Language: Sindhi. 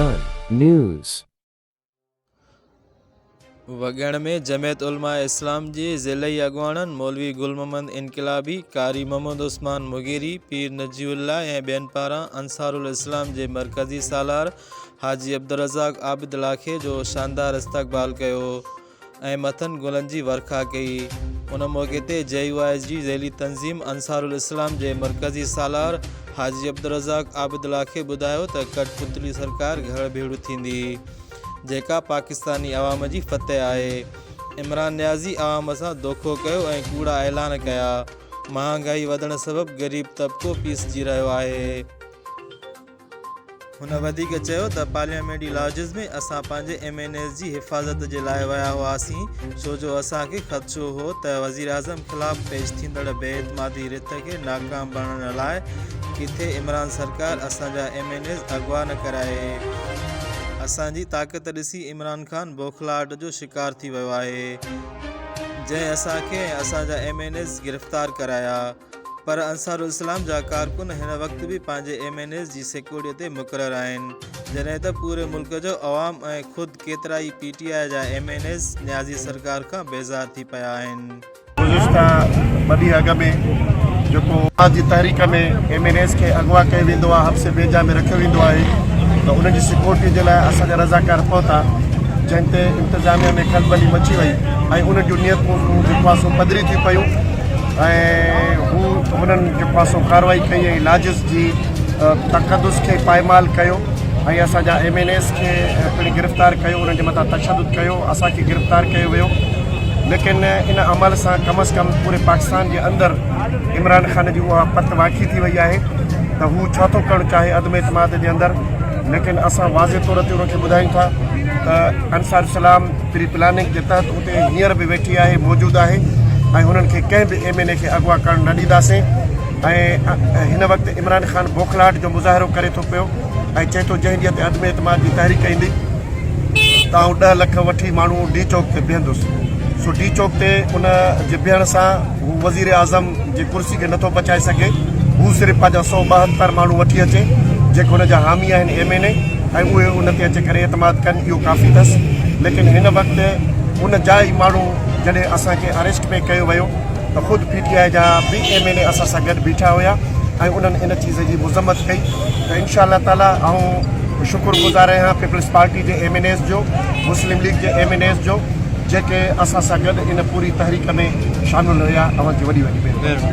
آهي. وڳهڻ ۾ جمعيت علماء اسلام جي ضلعي اڳواڻن مولوي گل محمد انقلابي، قاري محمد عثمان مغيري، پير نجي الله ۽ ٻين پاران انصارالاسلام جي مرڪزي سالار حاجي عبدالرزاق عابد لاکي جو شاندار استقبال ڪيو ۽ مٿن گلن جي ورکا ڪئي ان موقعي تي جي يو آء ايس جي ذيلي تنظيم انصارالاسلام جي مرڪزي سالار حاجي عبدالرزاق عابد لاکي ٻڌايو ته ڪٺ پتلي سرڪار گهڙ ڀيڙ ٿيندي جيڪا پاڪستاني عوام جي فتح آهي عمران نيازي عوام سان دوکو ڪيو ۽ ڪوڙا اعلان ڪيا مهانگائي وڌڻ سبب غريب طبقو پيسجي رهيو آهي هن وڌيڪ چيو ته پارليامينٽري لاجز ۾ اسان پنهنجي ايم اين ايز جي حفاظت جي لاء ويا هئاسين ڇو جو اسان کي خدشو هو ته وزيراعظم خلاف پيش ٿيندڙ بي اعتمادي رٿ کي ناڪام بڻڻ لاء ڪٿي عمران سرڪار اسان جا ايم اين ايز اغوا نه ڪرائي اسان جي طاقت ڏسي عمران خان بوکلاهٽ جو شڪار ٿي ويو آهي جنهن اسان کي ۽ اسان جا ايم اين ايز گرفتار ڪرايا. پر انصارالاسلام جا ڪارڪن هن وقت به پنهنجي ايم اين ايز جي سيڪورٽيء تي مقرر آهن، جڏهن ته پوري ملڪ جو عوام ۽ خود ڪيترا ئي پي ٽي آء جا ايم اين ايز نيازي سرڪار کان بيزار ٿي پيا آهن. گذشته ٻه ڏينهن اڳ ۾ جيڪو اڄ جي تحريڪ ۾ ايم اين ايز کي اغوا ڪيو ويندو آهي، حبس بيجا ۾ رکيو ويندو آهي ته انهن جي سيڪورٽيء جي لاء اسان جا رضاڪار پهتا، جنهن تي انتظاميا ۾ کلبلي مچي وئي ۽ انهن جون نيتون جيڪو آهي سو پڌري ٿي پيون. ۽ هو هنن جو پاسو ڪارروائي ڪئي ۽ ناجز جي تقدس کي پائمال ڪيو ۽ اسان جا ايم اين ايز کي پڻ گرفتار ڪيو انهن جي مٿان تشدد ڪيو اسان کي گرفتار ڪيو ويو ليڪن ان عمل سان ڪم از ڪم پوري پاڪستان جي اندر عمران خان جي اها پت واکي ٿي وئي آهي ته هو ڇا ٿو ڪرڻ چاهي عدم اعتماد جي اندر ليڪن اسان واضح طور تي ان کي ٻڌايون ٿا ته انصار اسلام پري پلاننگ جي تحت تي هينئر به ويٺي آهي موجود آهي ۽ هنن کي ڪنهن به ايم اين اي کي اغوا ڪرڻ نه ڏينداسين ۽ هن وقت عمران خان بوکلاهٽ جو مظاهرو ڪري ٿو پيو ۽ چئي ٿو جنهن ڏينهن تي عدم اعتماد جي تحريڪ ايندي ته آئون ڏهه لک وٺي ماڻهو ڊي چوڪ تي بيهندس سو ڊي چوڪ تي ان جي بيهڻ سان هو وزيراعظم جي ڪرسي کي نٿو بچائي سگهي، هو صرف پنهنجا سؤ ٻاهتر ماڻهو وٺي اچي، جيڪي هن جا حامي آهن ايم اين اي ۽ اهي ان تي اچي ڪري اعتماد ڪن اهو ڪافي اٿس، ليڪن هن وقت ان جا ئي ماڻهو جڏهن اسان کي اريسٽ پئي ڪيو ويو ته خود پي ٽي آء جا به ايم اين اي اسان سان گڏ بيٺا هيا ۽ انهن ان چيز جي مذمت ڪئي ته انشاء الله تعالي آئون شڪر گذار آهيان پيپلز پارٽي جي ايم اين ايز جو، مسلم ليگ جي ايم اين ايز جو. جيڪي اسان سان گڏ ان پوري تحريڪ ۾ شامل ھيا اوھان جي وڏي وڏي مھرباني.